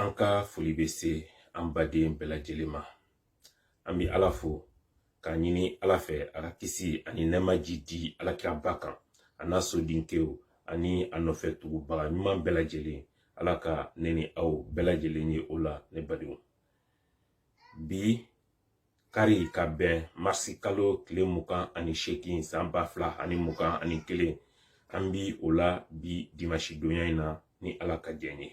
an ka foli bɛ se an baden bɛɛ lajɛlen ma an bɛ ala fo k'a ɲini ala fɛ a ka kisi ani nɛɛma jiidi ala kiraba kan a n'a sodenkɛw ani a nɔfɛ tugubaga ɲuman bɛɛ lajɛlen ala ka ne ni aw bɛɛ lajɛlen ye o la ne badenw bi kari ka bɛn marisi kalo tile mugan ani seegin san ba fila ani mugan ani kelen an bi o la bi dimasi donya in na ni ala ka jɛn ye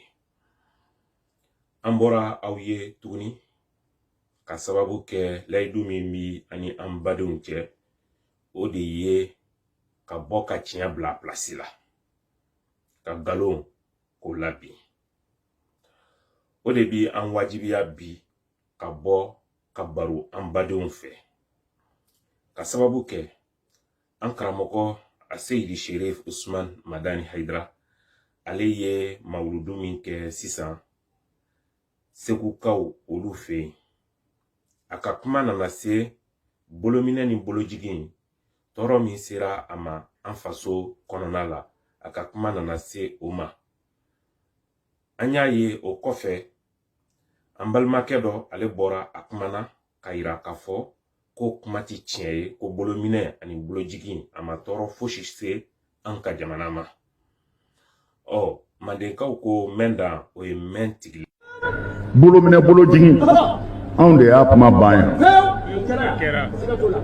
an bɔra aw ye tuguni ka sababu kɛ layidu min b'an ni an badenw cɛ o de ye ka bɔ ka tiɲɛ bila pilasi la ka nkalon k'o labin o de bi an wajibiya bi ka bɔ ka baro an badenw fɛ ka sababu kɛ an karamɔgɔ a seyidi sherif usman madani haidara ale ye mawuludu min kɛ sisan segukaw olu fɛ yen a ka kuma nana se bolominɛ ni bolojigin tɔɔrɔ min sera a ma an faso kɔnɔna la a ka kuma nana se o ma an y'a ye o kɔfɛ an balimakɛ dɔ ale bɔra a kumana k'a yira k'a fɔ ko kuma ti tiɲɛ ye ko bolominɛ ani bolojigin a ma tɔɔrɔ fosi se an ka jamana ma ɔ mandenkaw ko mɛn dan o ye mɛn tigili bolo minɛ bolo jigin anw de y'a kuma ban yan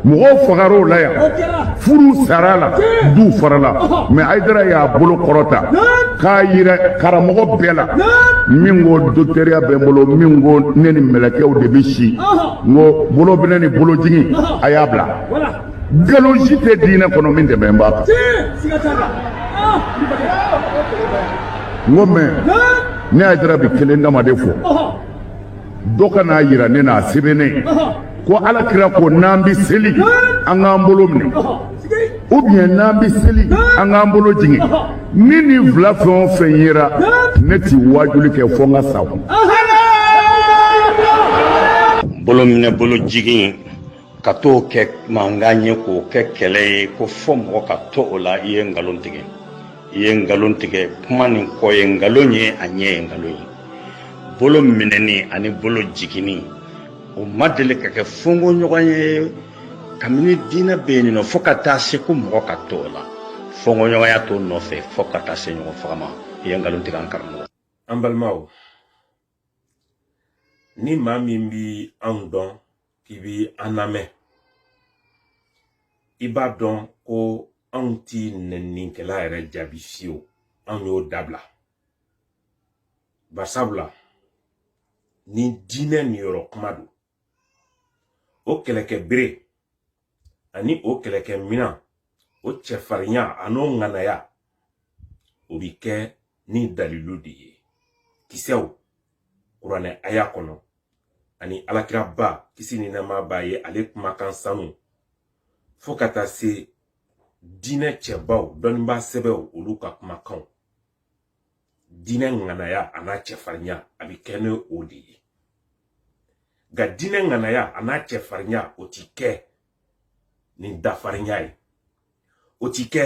mɔgɔw fagara o la yan furu sara a la du farala mɛ haidara y'a bolo kɔrɔta k'a yira karamɔgɔ bɛɛ la min ko dɔkitɛriya bɛ n bolo min ko ne ni mɛlɛkɛw de bɛ si n ko bolo minɛ ni bolo jigin a y'a bila nkalonji tɛ diinɛ kɔnɔ min dɛmɛ b'a kan n ko mɛ ne haidara bi kelen dama de fɔ dɔ ka n'a yira ne n'a sɛbɛnnen ko ala kira ko n'an bɛ seli an k'an bolo minɛ ou bien n'an bɛ seli an k'an bolo jigin ni nin fila fɛn o fɛn yera ne ti waajuli kɛ fo n ka sa kun bolo minɛ bolo jigin ka t'o kɛ mankan ye k'o kɛ kɛlɛ ye ko fo mɔgɔ ka to o la i ye nkalon tigɛ i ye nkalon tigɛ kuma nin kɔ ye nkalon ye a ɲɛ ye nkalon ye bolo minɛni ani bolo jiginni o ma deli ka kɛ fɔnkɔɲɔgɔnya ye kabini diinɛ bɛ yen nɔ fo ka taa se ko mɔgɔ ka to o la fɔnkɔɲɔgɔnya t'o nɔfɛ fo ka taa se ɲɔgɔn faga ma i ye nkalon tigɛ an karamɔgɔ an balimaw ni maa min bi anw dɔn k'i bi an lamɛn i b'a dɔn ko anw ti nɛninkɛla yɛrɛ jaabi fiyewu anw y'o dabila barisabula ni diinɛ niyɔrɔ kuma don o kɛlɛkɛ bere ani o kɛlɛkɛ minan o cɛfarinya an'o ŋanaya o bi kɛ ni dalilu de ye kisɛw kuranɛ aya kɔnɔ ani alakiraba kisi ni nɛɛma b'a ye ale kumakan sanu fo ka taa se diinɛ cɛbaw dɔnnibaa sɛbɛw olu ka kumakanw diinɛ ŋanaya a n'a cɛfarinya a bɛ kɛ ni o de ye nka diinɛ ŋanaya a n'a cɛfarinya o ti kɛ ni dafarinya ye o ti kɛ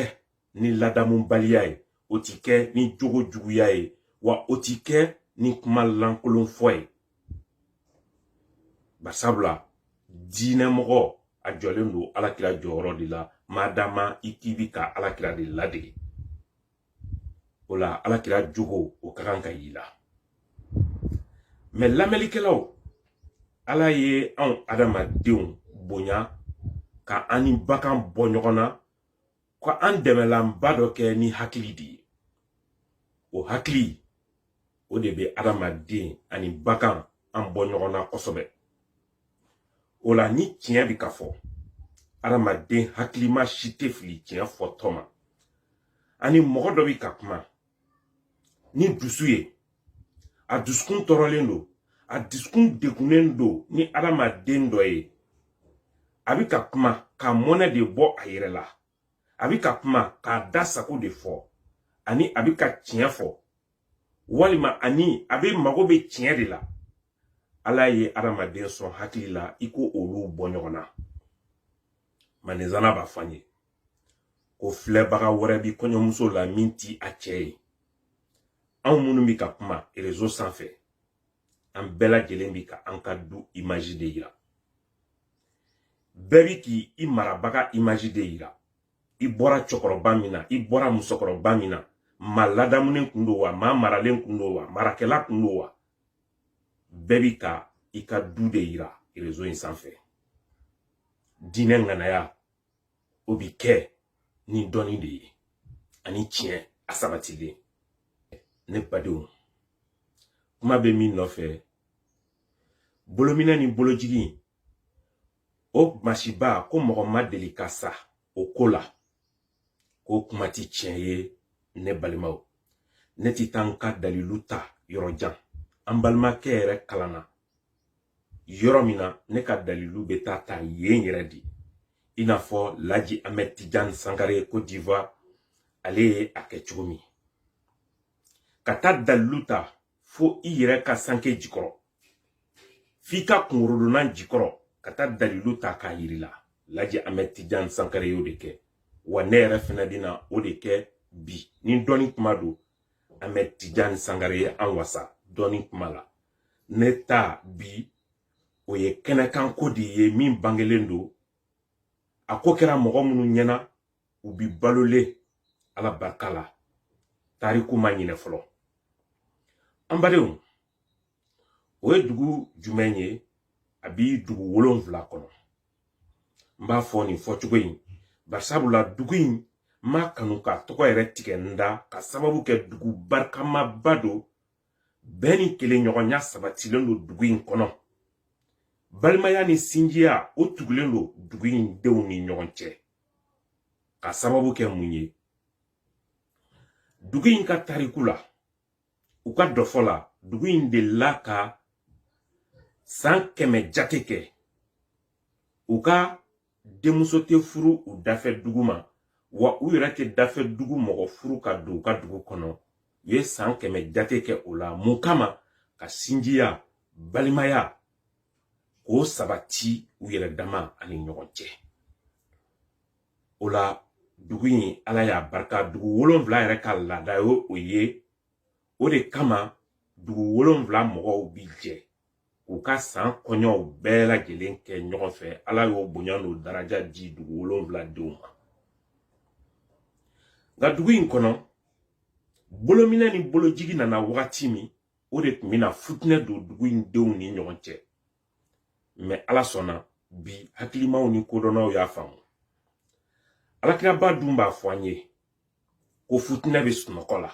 ni ladamubaliya ye o ti kɛ ni jogo juguya ye wa o ti kɛ ni kuma lankolon fɔ ye barisabula diinɛ mɔgɔ a jɔlen don alakira jɔyɔrɔ de la madama i k'i bi ka alakira de ladege o la alakira jogo o ka kan ka y'i la ne lamɛnlikɛlaw ala ye anw adamadenw bonya ka an ni bagan bɔ ɲɔgɔn na ko an dɛmɛlanba dɔ kɛ ni hakili de ye o hakili o de bɛ adamaden ani bagan an bɔ ɲɔgɔn na kosɛbɛ o la ni tiɲɛ bɛ ka fɔ adamaden hakilima si tɛ fili tiɲɛ fɔtɔ ma ani mɔgɔ dɔ bɛ ka kuma ni dusu ye a dusukun tɔɔrɔlen don a dusukun degunnen don ni adamaden dɔ ye a bɛ ka kuma ka mɔnɛ de bɔ a yɛrɛ la a bɛ ka kuma k'a da sago de fɔ ani a bɛ ka tiɲɛ fɔ walima ani a bɛ mago bɛ tiɲɛ de la ala ye adamaden sɔn hakili la i k'olu bɔ ɲɔgɔn na nsana b'a fɔ an ye ko filɛbaga wɛrɛ bi kɔɲɔmuso la min ti a cɛ ye anw minnu bi ka kuma rezo sanfɛ an bɛɛ lajɛlen bi ka an ka du imaji de yira bɛɛ bi k'i i marabaga imaji de yira i bɔra cɛkɔrɔba min na i bɔra musokɔrɔba min na maa ladamunen kun don wa maa maralen kun don wa marakɛla kun don wa bɛɛ bi ka i ka du de yira rezo in sanfɛ diinɛ ŋanaya o bi kɛ ni dɔnni de ye ani tiɲɛ a sabatilen ne badenw kuma bɛ min nɔfɛ bolominɛ ni bolojigin o masiba ko mɔgɔ ma deli ka sa o ko la k'o kuma ti tiɲɛ ye ne balimaw ne ti taa n ka dalilu ta yɔrɔ jan an balimakɛ yɛrɛ kalanna yɔrɔ min na ne ka dalilu bɛ taa ta yen yɛrɛ de i n'a fɔ laji amɛd tijan sankare côte d'ivoire ale ye a kɛ cogo min ka taa dalilu ta fo i yɛrɛ ka sanke jikɔrɔ f'i ka kunkɔrɔdonnan jikɔrɔ ka taa dalilu ta k'a yir'i la laji amɛd tijan sankare y'o de kɛ wa ne yɛrɛ fɛnɛ bɛna o de kɛ bi ni dɔnni kuma don amɛd tijan sankare ye an wasa dɔnni kuma la ne ta bi o ye kɛnɛkan ko de ye min bangelen don a ko kɛra mɔgɔ minnu ɲɛna u bi balolen ala barika la tariku ma ɲinɛ fɔlɔ an badenw o ye dugu jumɛn ye a bi dugu wolonwula kɔnɔ n b'a fɔ nin fɔcogo in bari sabu la dugu in n m'a kanu k'a tɔgɔ yɛrɛ tigɛ n da ka sababu kɛ dugu barikamaba don bɛn ni kelenɲɔgɔnya sabatilen don dugu in kɔnɔ balimaya ni sinjiya o tugulen don dugu in denw ni ɲɔgɔn cɛ ka sababu kɛ mun ye dugu in ka tariku la u ka dɔfɔ la dugu in delila ka san kɛmɛ jate kɛ u ka denmuso tɛ furu u dafɛ dugu ma wa u yɛrɛ tɛ dafɛ dugu mɔgɔ furu ka don u ka dugu kɔnɔ u ye san kɛmɛ jate kɛ o la mun kama ka sinjiya balimaya k'o sabati u yɛrɛ dama ani ɲɔgɔn cɛ o la dugu in ala y'a barika dugu wolonwula yɛrɛ ka laada ye o ye o de kama dugu wolonwula mɔgɔw bi jɛ k'u ka san kɔɲɔw bɛɛ lajɛlen kɛ ɲɔgɔn fɛ ala y'o bonya n'o daraja di dugu wolonwula denw ma nka dugu in kɔnɔ bolominɛ ni bolojigi nana wagati min o de tun bɛna futinɛ don dugu in denw ni ɲɔgɔn cɛ mɛ ala sɔnna bi hakilimaw ni kodɔnnaw y'a faamu ala kiraba dun b'a fɔ an ye ko futinɛ bɛ sunɔgɔ la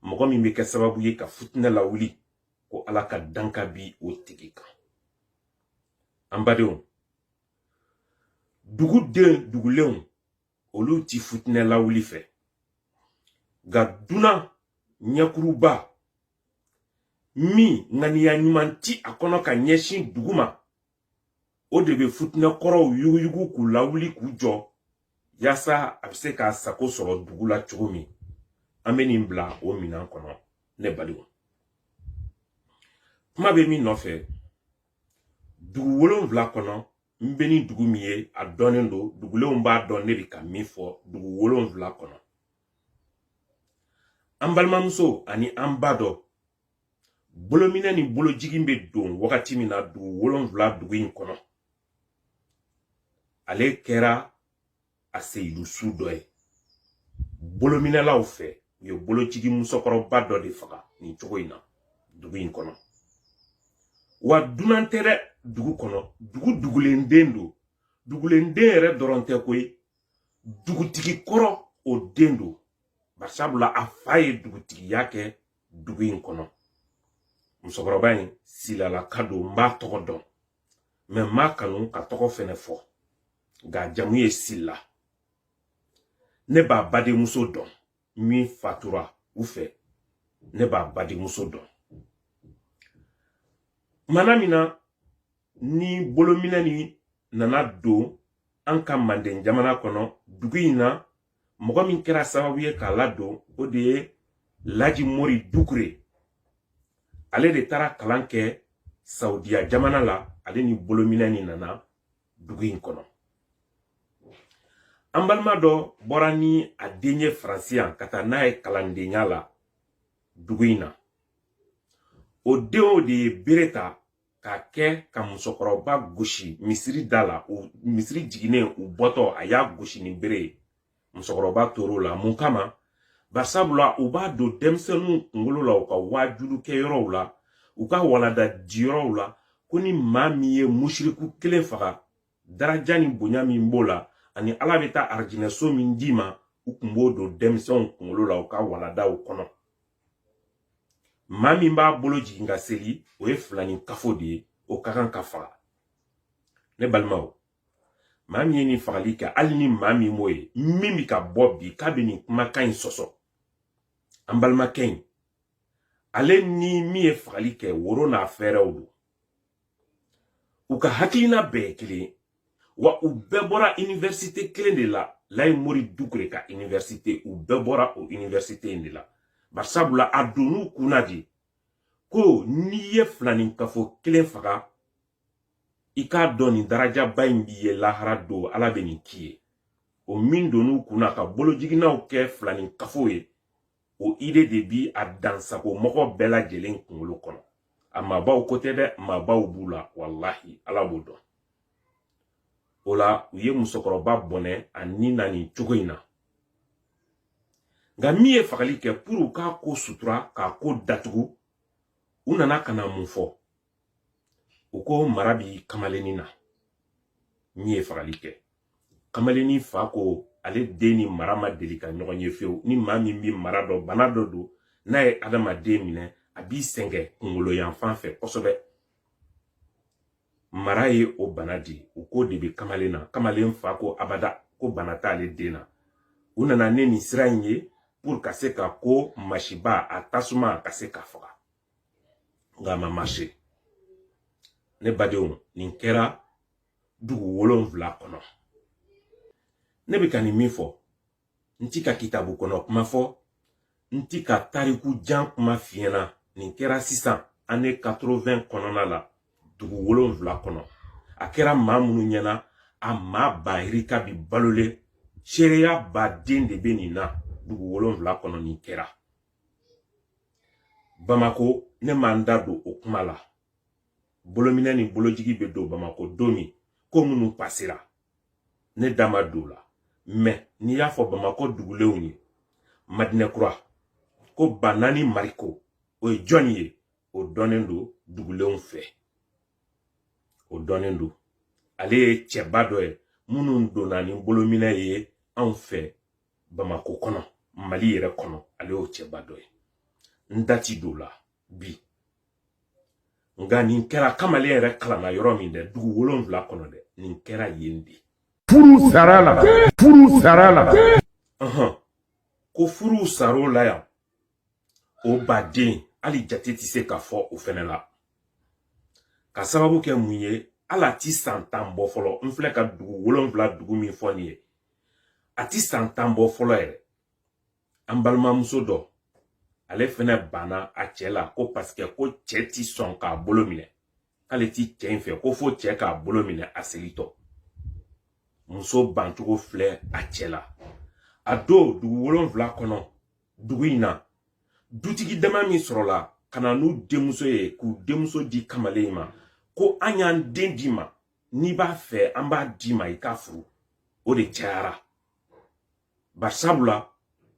mɔgɔ min bɛ kɛ sababu ye ka futinɛ lawuli ko ala ka danka bi o tigi kan an badenw duguden dugulenw olu ti futinɛ lawuli fɛ nka dunan ɲɛkuruba min ŋaniya ɲuman ti a kɔnɔ ka ɲɛsin dugu ma o de bɛ futinɛ kɔrɔw yuguyugu k'u lawuli k'u jɔ yaasa a bɛ se k'a sago sɔrɔ dugu la cogo min an bɛ nin bila o minan kɔnɔ ne balimaw kuma bɛ min nɔfɛ dugu wolonwula kɔnɔ n bɛ ni dugu min ye a dɔnnen don dugulenw b'a dɔn ne bɛ ka min fɔ dugu wolonwula kɔnɔ an balimamuso ani an ba dɔ bolominɛ ni bolojigin bɛ don wagati min na dugu wolonwula dugu in kɔnɔ ale kɛra a seyidusu dɔ ye bolominɛlaw fɛ u ye bolojigi musokɔrɔba dɔ de faga nin cogo in na dugu in kɔnɔ wa dunan tɛ dɛ dugu kɔnɔ dugu dugulen den don dugulen den yɛrɛ dɔrɔn tɛ koyi dugutigi kɔrɔ o den don barisabula a fa ye dugutigiya kɛ dugu in kɔnɔ musokɔrɔba in silalaka don n b'a tɔgɔ dɔn mɛ n m'a kanu k'a tɔgɔ fɛnɛ fɔ nka jamu ye sila ne b'a badenmuso dɔn min fatura u fɛ ne b'a badenmuso dɔn maa min na ni bolominɛ nin nana don an ka manden jamana kɔnɔ dugu in na mɔgɔ min kɛra sababu ye k'a ladon o de ye laji mori dukure ale de taara kalan kɛ saudiya jamana la ale ni bolominɛ nin nana dugu in kɔnɔ an balima dɔ bɔra ni a den ye faransi yan ka taa n'a ye kalandenya la dugu in na o den o de ye bere ta k'a kɛ ka musokɔrɔba gosi misiri da la o misiri jiginnen u bɔtɔ a y'a gosi ni bere ye musokɔrɔba tor'o la mun kama barisabula u b'a don denmisɛnninw kunkolo la u ka waajulikɛyɔrɔw la u ka waladadiyɔrɔw la ko ni maa min ye musiriku kelen faga daraja ni bonya min b'o la ani ala bɛ taa arijinɛso min d'i ma u tun b'o don denmisɛnw kunkolo la u ka waladaw kɔnɔ maa min b'a bolo jigin ka seli o ye filaninkafo de ye o ka kan ka faga ne balimaw maa min ye nin fagali kɛ ale ni maa min b'o ye min bɛ ka bɔ bi k'a bɛ nin kumakan in sɔsɔ an balimakɛ in ale ni min ye fagali kɛ woro n'a fɛɛrɛw don u ka hakilina bɛɛ ye kelen ye wa u bɛɛ bɔra iniwɛrisite kelen de la layi mori dukure ka iniwɛrisite u bɛɛ bɔra o iniwɛrisite in de la barisabula a donn'u kunna de ko n'i ye filaninkafo kelen faga i k'a dɔn nin darajaba in b'i ye lahara don ala bɛ nin k'i ye o min donn'u kunna ka bolojiginaw kɛ filaninkafo ye o ide de bi a dansago mɔgɔ bɛɛ lajɛlen kunkolo kɔnɔ a mabaw ko tɛ dɛ mabaw b'u la walahi ala b'o dɔn o la u ye musokɔrɔba bɔnɛ a ni na nin cogo in na nka min ye fagali kɛ puru k'a ko sutura k'a ko datugu u nana ka na mun fɔ u ko mara bi kamalennin na min ye fagali kɛ kamalennin fa ko ale den ni mara ma deli ka ɲɔgɔn ye fewu ni maa min bi mara dɔ bana dɔ don n'a ye adamaden minɛ a b'i sɛgɛn kungolo yanfan fɛ kosɛbɛ mara ye o bana di u ko o de bi kamalen na kamalen fa ko abada ko bana t'ale den na u nana ni nin sira in ye puru ka se ka ko masiba a tasuma ka se ka faga nka a ma mase ne badenw nin kɛra dugu wolonfila kɔnɔ ne bɛ ka nin min fɔ n ti ka kitabu kɔnɔ kuma fɔ n ti ka tariku jan kuma f'i ɲɛ na nin kɛra sisan ane 80 kɔnɔna la dugu wolonfila kɔnɔ a kɛra maa minnu ɲɛna a maa bayirika bi balolen seereya baden de bɛ nin na dugu wolonfila kɔnɔ nin kɛra bamako ne ma n da don o kuma la bolominɛ ni bolojigi bɛ don bamako don min ko minnu pasera ne da ma don o la mɛ n'i y'a fɔ bamakɔ dugulenw ye madinɛkura ko ba naani mariko o ye jɔn ye o dɔnnen don dugulenw fɛ o dɔnnen don ale ye cɛba dɔ ye minnu donna ni bolominɛ ye anw fɛ bamakɔ kɔnɔ mali yɛrɛ kɔnɔ ale y'o cɛba dɔ ye n da ti don o la bi nka nin kɛra kamalen yɛrɛ kalanna yɔrɔ min dɛ dugu wolonwula kɔnɔ dɛ nin kɛra yen de ko furu sara o la yan o baden hali jate tɛ se ka fɔ o fɛnɛ la k'a sababu kɛ mun ye hali a ti san tan bɔ fɔlɔ n filɛ ka dugu wolonwula dugu min fɔ nin ye a ti san tan bɔ fɔlɔ yɛrɛ an balimamuso dɔ ale fɛnɛ banna a cɛ la ko paseke ko cɛ ti sɔn k'a bolo minɛ k'ale ti cɛ in fɛ ko fo cɛ k'a bolo minɛ a segintɔ muso bancogo filɛ a cɛ la a don dugu wolonfila kɔnɔ dugu in na dutigi dama min sɔrɔla ka na n'u denmuso ye k'u denmuso di kamalen in ma ko an y'an den d'i ma n'i b'a fɛ an b'a d'i ma i k'a furu o de cayara barisabula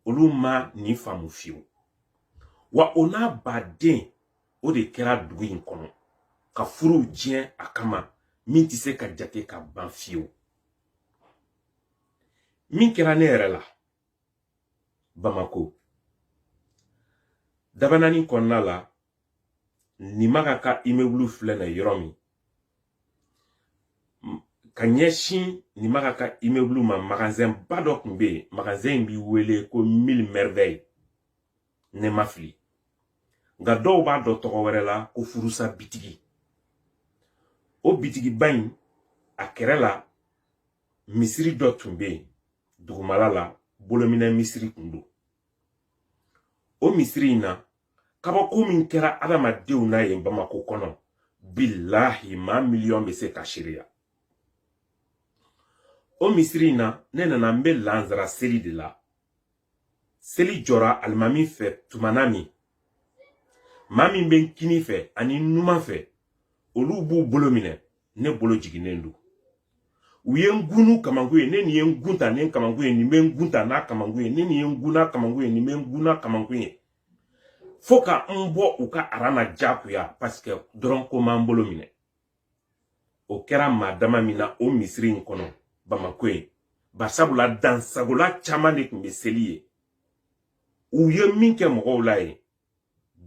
olu ma nin faamu fiyewu wa o n'a baden o de kɛra dugu in kɔnɔ ka furuw tiɲɛ a kama min tɛ se ka jate ka ban fiyewu min kɛra ne yɛrɛ la bamako dabanani kɔnɔna la nimaga ka imebulu filɛ na yɔrɔ min ka ɲɛsin nimaga ka imebulu ma magazɛn ba dɔ tun bɛ yen magazɛn in bɛ wele ko mille merveille ni n ma fili nka dɔw b'a dɔn tɔgɔ wɛrɛ la ko furusa bitigi o bitigiba in a kɛrɛ la misiri dɔ tun bɛ yen dugumala la bolominɛ misiri tun don o misiri in na kabako min kɛra adamadenw na yen bamako kɔnɔ bilahi maa miliyɔn bɛ se k'a seereya o misiri in na ne nana n bɛ lansara seli de la seli jɔra alimami fɛ tumana min maa min bɛ n kini fɛ ani n numan fɛ olu b'u bolo minɛ ne bolo jiginnen don u ye n gun n'u kamankun ye ne nin ye n gun ta ni kamankun ye nin bɛ n gun ta n'a kamankun ye ne nin ye n gun n'a kamankun ye nin bɛ n gun n'a kamankun ye fo ka n bɔ u ka aran na jagoya paseke dɔrɔn ko n ma n bolo minɛ o kɛra maa dama min na o misiri in kɔnɔ bamako yen barisabula dansagola caman de tun bɛ seli yen u ye min kɛ mɔgɔw la yen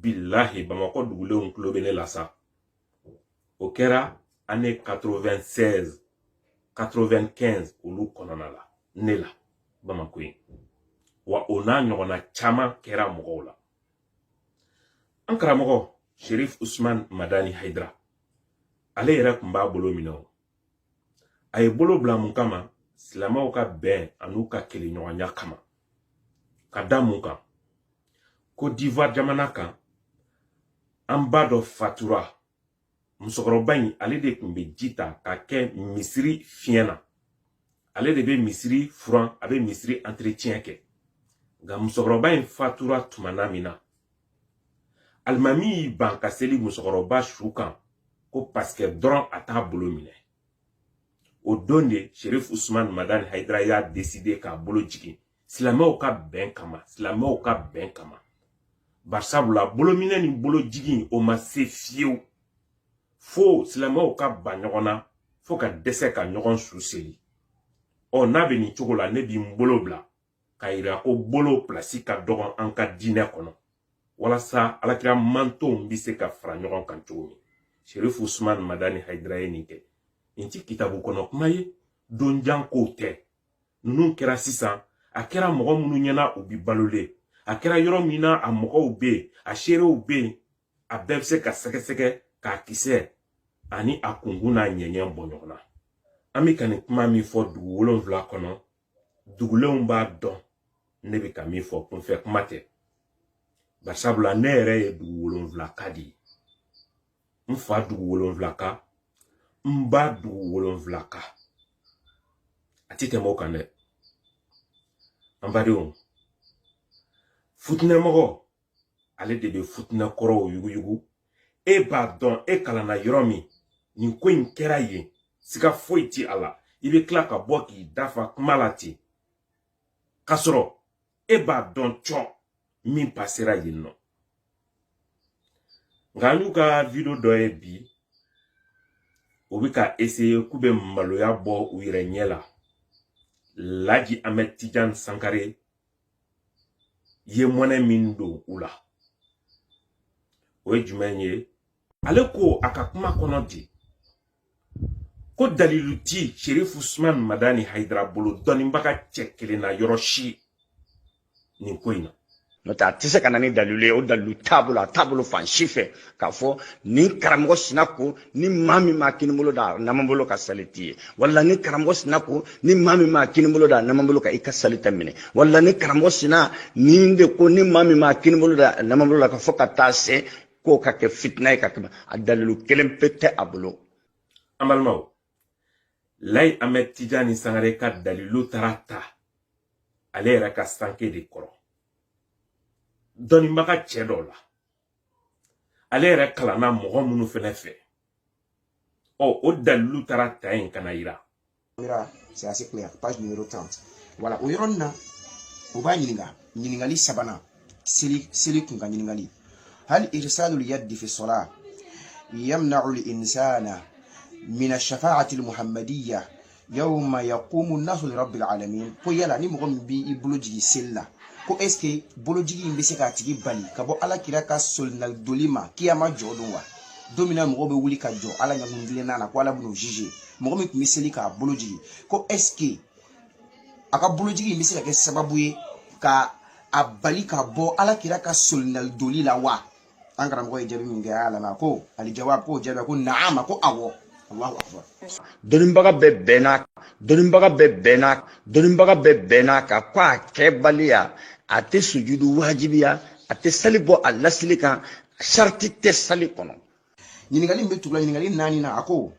bilahi bamako dugulenw tulo bɛ ne la sa o kɛra année 96 95 olu kɔnɔna la ne la bamako yen wa o n'a ɲɔgɔnna caman kɛra mɔgɔw la an karamɔgɔ sherif usman madani haidara ale yɛrɛ tun b'a bolo minɛ o a y'a bolo bila mun kama silamɛw ka bɛn an'u ka keleɲɔgɔnya kama ka da mun kan côte d'ivoire jamana kan an ba dɔ fatura musokɔrɔba in ale de tun bɛ ji ta ka kɛ misiri fiɲɛ na ale de bɛ misiri furan a bɛ misiri entretien kɛ nka musokɔrɔba in fatura tuma na min na alimami y'i ban ka seli musokɔrɔba su kan ko pasikɛ dɔrɔn a t'a bolo minɛ o don de sherif usman madani hayidara y'a deside k'a bolo jigin silamɛw ka bɛn kama silamɛw ka bɛn kama barisabula bolominɛ ni bolo jigin o ma se fiyewu fo silamɛw ka ban ɲɔgɔn na fo ka dɛsɛ ka ɲɔgɔn su seli ɔ n'a bɛ nin cogo la ne bɛ n bolo bila k'a yira ko bolo pilasi ka dɔgɔn an ka diinɛ kɔnɔ walasa alakira mantonw bɛ se ka fara ɲɔgɔn kan cogo min sherifu usman madani hayidara ye nin kɛ nin ti kitabu kɔnɔ kuma ye donjan kow tɛ ninnu kɛra sisan a kɛra mɔgɔ minnu ɲɛna u bi balolen a kɛra yɔrɔ min na a mɔgɔw bɛ yen a seerew bɛ yen a bɛɛ bɛ se ka sɛgɛsɛgɛ k'a kisɛ ani a kunkun n'a ɲɛɲɛ bɔ ɲɔgɔn na an bɛ ka nin kuma min fɔ dugu wolonwula kɔnɔ dugulenw b'a dɔn ne bɛ ka min fɔ kunfɛ kuma tɛ barisabula ne yɛrɛ ye dugu wolonwulaka de ye n fa dugu wolonwulaka n ba dugu wolonwulaka a tɛ tɛmɛ o kan dɛ an badenw futinɛmɔgɔ ale de bɛ futinɛ kɔrɔw yuguyugu e b'a dɔn e kalanna yɔrɔ min nin ko in kɛra yen siga foyi ti a la i bɛ tila ka bɔ k'i da fa kuma la ten k'a sɔrɔ e b'a dɔn cɔn min pasera yen nɔ nka an y'u ka video dɔ ye bi u bɛ ka eseye k'u bɛ maloya bɔ u yɛrɛ ɲɛ la laji amɛd tijan sankare ye mɔnɛ min don u la o ye jumɛn ye ale ko a ka kuma kɔnɔ di ko dalilu ti sherifu usman madani hayidara bolo dɔnnibaga cɛ kelen na yɔrɔ si nin ko in na n'o tɛ a tɛ se ka na ni dalilu ye o dalilu t'a bolo a t'a bolo fan si fɛ k'a fɔ nin karamɔgɔ sina ko ni maa min ma kini bolo da naman bolo kan sali t'i ye wala ni karamɔgɔ sina ko ni maa min ma kini bolo da naman bolo kan i ka sali tɛ minɛ wala ni karamɔgɔ sina nin de ko ni maa min ma kini bolo da naman bolo la ka fɔ ka taa se k'o ka kɛ fitina ye ka tɛmɛ a dalilu kelen pe tɛ a bolo an balimaw laji amɛd tijani sangare ka dalilu taara ta ale yɛrɛ ka sanke de kɔrɔ dɔnnibaga cɛ dɔ la ale yɛrɛ kalanna mɔgɔ minnu fɛnɛ fɛ ɔ o dalilu taara ta yen ka na yira c'est assez clair page numéro 30 voilà o yɔrɔnin na u b'a ɲininka ɲininkali sabanan seli seli kun ka ɲininkali hal irsalul yaddi fi sola yamna'u linsana min ashafaati almuhammadiya yawma yaqumu nasu li rabbil alamin ko yala ni mɔgɔ min b'i bolo jigin seli la ko est ce que bolojigi in bɛ se k'a tigi bali ka bɔ ala kira ka solinali doli ma kiyama jɔ don wa don min na mɔgɔw bɛ wuli ka jɔ ala ɲa kuntilenna na ko ala bɛn'u juge mɔgɔ min tun bɛ seli k'a bolo jigin ko est ce que a ka bolojigi in bɛ se ka kɛ sababu ye ka a bali ka bɔ ala kira ka solinali doli la wa an karamɔgɔ ye jaabi min kɛ a nana ko aljawab ko jaabi ko naam ko awɔ allahu akbar dɔnniba dɔnnibaga bɛɛ bɛnn'a kan ko a kɛbaliya a tɛ sujudu wajibiya a tɛ sali bɔ a lasili kan sarati tɛ sali kɔnɔ ɲininkali min bɛ tugu o la ɲininkali naaninan a ko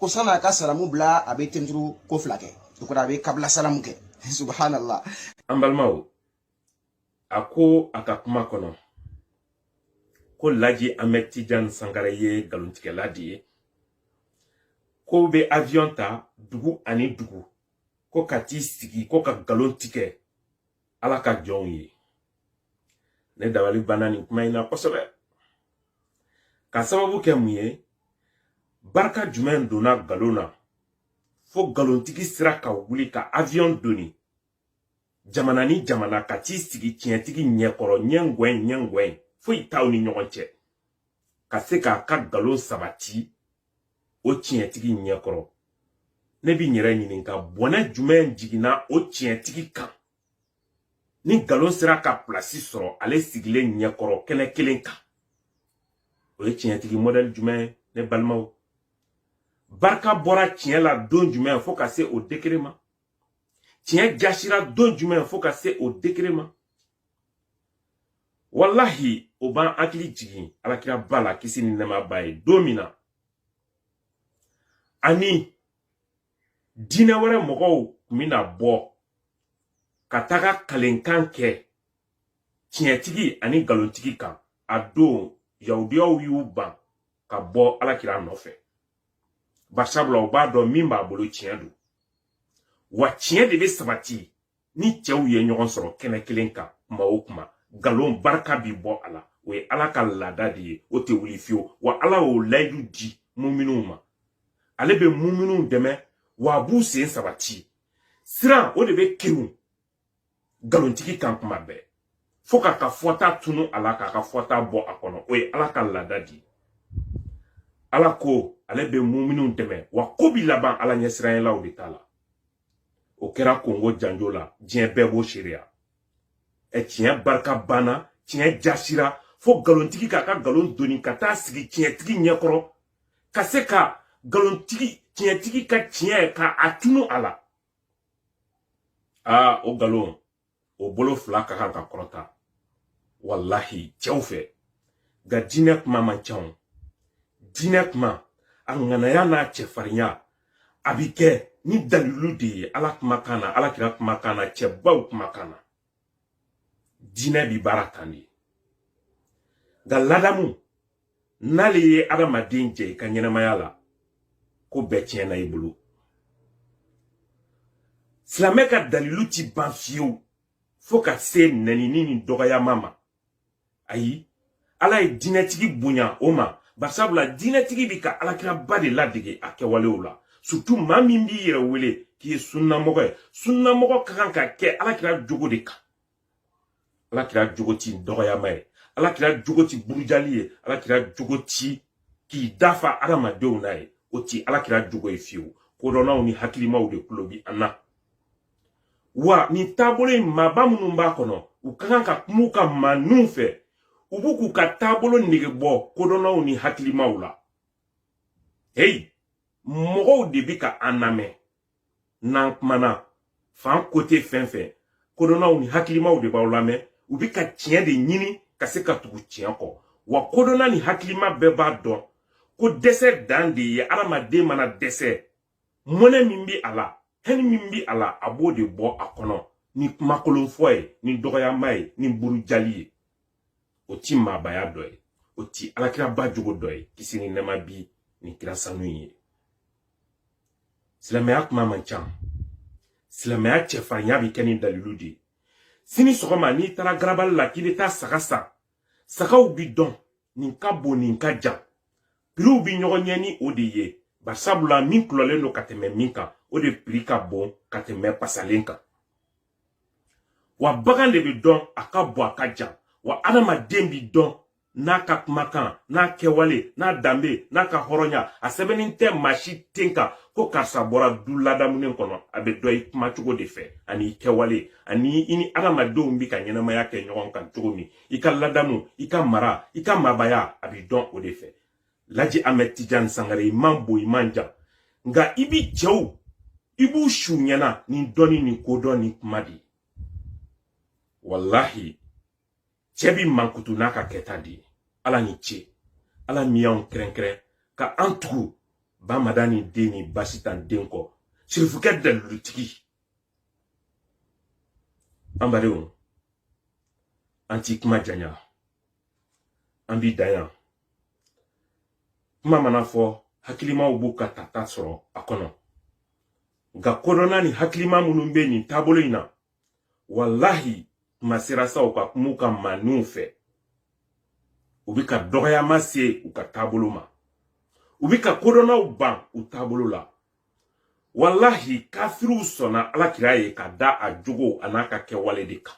ko san'a ka salamu bila a bɛ tenturu ko fila kɛ o kɔrɔ a bɛ kabila salamu kɛ subhanallah an balimaw a ko a ka kuma kɔnɔ ko laji ahmed tijan sangare ye nkalontigɛla de ye k'o bɛ avion ta dugu ani dugu ko ka t'i sigi ko ka nkalon tigɛ ala ka jɔnw ye ne dabali banna nin kuma in na kosɛbɛ k'a sababu kɛ mun ye barika jumɛn donna galon na fo galontigi sera ka wuli ka avion doni jamana ni jamana ka t'i sigi tiɲɛtigi ɲɛkɔrɔ ɲɛ ngwɛn ɲɛ ngwɛn foyi t'aw ni ɲɔgɔn cɛ ka se k'a ka galon sabati o tiɲɛtigi ɲɛkɔrɔ ne bɛ n yɛrɛ ɲininka bɔnɛ jumɛn jiginna o tiɲɛtigi kan ni nkalon sera ka pilasi sɔrɔ ale sigilen ɲɛkɔrɔ kɛnɛ kelen kan o ye tiɲɛtigi mɔdɛli jumɛn ye ne balimaw barika bɔra tiɲɛ la don jumɛn fo ka se o degere ma tiɲɛ jasira don jumɛn fo ka se o degere ma walahi o b'an hakili jigin alakira ba la kisi ni nɛɛma b'a ye don min na ani diinɛ wɛrɛ mɔgɔw tun bɛna bɔ ka taga kalenkan kɛ tiɲɛtigi ani nkalontigi kan a don yahudiyaw y'u ban ka bɔ alakira nɔfɛ bari sabula u b'a dɔn min b'a bolo tiɲɛ don wa tiɲɛ de bɛ sabati ni cɛw ye ɲɔgɔn sɔrɔ kɛnɛ kelen kan kuma o kuma nkalon barika bi bɔ a la o ye ala ka laada de ye o tɛ wuli fiyewu wa ala y'o layidu di muminuw ma ale bɛ muminuw dɛmɛ wa a b'u sen sabati siran o de bɛ kinw nkalontigi kan kuma bɛɛ fo k'a ka fɔta tunu a la k'a ka fɔta bɔ a kɔnɔ o ye ala ka laada di ala ko ale bɛ muminunw dɛmɛ wa ko bi laban ala ɲɛsiranyɛlaw de ta la o kɛra kongo janjo la diɲɛ bɛɛ b'o seereya ɛ tiɲɛ barika banna tiɲɛ jasira fo nkalontigi k'a ka nkalon doni ka taa sigi tiɲɛtigi ɲɛkɔrɔ ka se ka nkalontigi tiɲɛtigi ka tiɲɛ k'a tunu a la aa o nkalon o bolo fila ka kan ka kɔrɔta walahi cɛw fɛ nka diinɛ kuma man ca o diinɛ kuma a ŋanaya n'a cɛfarinya a bi kɛ ni dalilu de ye ala kumakan na ala kira kumakan na cɛbaw kumakan na diinɛ bi baara tan de nka ladamu n'ale ye adamaden jɛ i ka ɲɛnamaya la ko bɛɛ tiɲɛna i bolo silamɛ ka dalilu ti ban fiyewu fo ka se nɛnini ni dɔgɔyama ma ayi ala ye diinɛtigi bonya o ma barisabula diinɛtigi bi ka alakiraba de ladege a kɛwalew la surtout maa min b'i yɛrɛ wele k'i ye sunnamɔgɔ ye sunnamɔgɔ ka kan ka kɛ alakira jogo de kan ala kira jogo ti dɔgɔyama ye ala kira jogo ti burujali ye ala kira jogo ti k'i da fa adamadenw na ye o ti ala kira jogo ye fiyewu kodɔnnaw ni hakilimaw de kulo bi an na wa nin taabolo in maaba minnu b'a kɔnɔ u ka kan ka kuma u ka maaninw fɛ u bi k'u ka taabolo nege bɔ kodɔnnaw ni hakilimaw la heyi mɔgɔw de bi ka an lamɛn n'an kumana fan côté fɛn fɛ kodɔnnaw ni hakilimaw de b'aw lamɛn u bɛ ka tiɲɛ de ɲini ka se ka tugu tiɲɛ kɔ wa kodɔnna ni hakilima bɛɛ b'a dɔn ko dɛsɛ dan de ye adamaden mana dɛsɛ mɔnɛ min bɛ a la haine min bɛ a la a b'o de bɔ a kɔnɔ ni kumakolon fɔ ye ni dɔgɔyama ye ni burujali ye o ti maabaya dɔ ye o ti alakiraba jogo dɔ ye kisi ni nɛɛma bi nin kira sanu ye silamɛya kuma man ca silamɛya cɛfarinya bɛ kɛ ni dalilu de ye sini sɔgɔma n'i taara garabali la k'i bɛ taa saga san sagaw bi dɔn nin ka bon nin ka jan piriw bi ɲɔgɔn ɲɛ ni o de ye barisabula min kulɔlen don ka tɛmɛ min kan o de piri ka bon ka tɛmɛ pasalen kan wa bagan de bɛ dɔn a ka bon a ka jan wa adamaden bi dɔn n'a ka kumakan n'a kɛwale n'a danbe n'a ka hɔrɔnya a sɛbɛnnen tɛ maa si ten kan ko karisa bɔra du ladamunen kɔnɔ a bɛ dɔn i kuma cogo de fɛ ani i kɛwale ani i ni adamadenw bi ka ɲɛnamaya kɛ ɲɔgɔn kan cogo min i ka ladamu i ka mara i ka maabaya a bɛ dɔn o de fɛ laji ahmed tijan sangare i man bon i man jan nka i bi cɛw i b'u su ɲɛna ni dɔnni ni kodɔn ni kuma de ye walahi cɛ bi mankutu n'a ka kɛta de ye ala ni ce ala min y'anw kɛrɛnkɛrɛn ka an tugu bamadani den ni basitan den kɔ sirifukɛ dalilutigi an badenw an ti kuma janya an bi dan yan kuma mana fɔ hakilimaw b'u ka tata sɔrɔ a kɔnɔ nka kodɔnna ni hakilima minnu bɛ nin taabolo in na walahi u ma sira sɔrɔ ka kuma u ka maaninw fɛ u bɛ ka dɔgɔya mase u ka taabolo ma u bɛ ka kodɔnnaw ban u taabolo la walahi kafiriw sɔnna alakira ye ka da a jogo an'a ka kɛwale de kan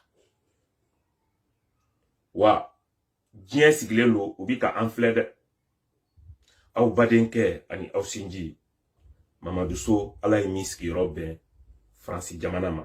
wa diɲɛ sigilen don u bi ka an filɛ dɛ aw badenkɛ ani aw sinji mamadu so ala ye min sigiyɔrɔ bɛn faransi jamana ma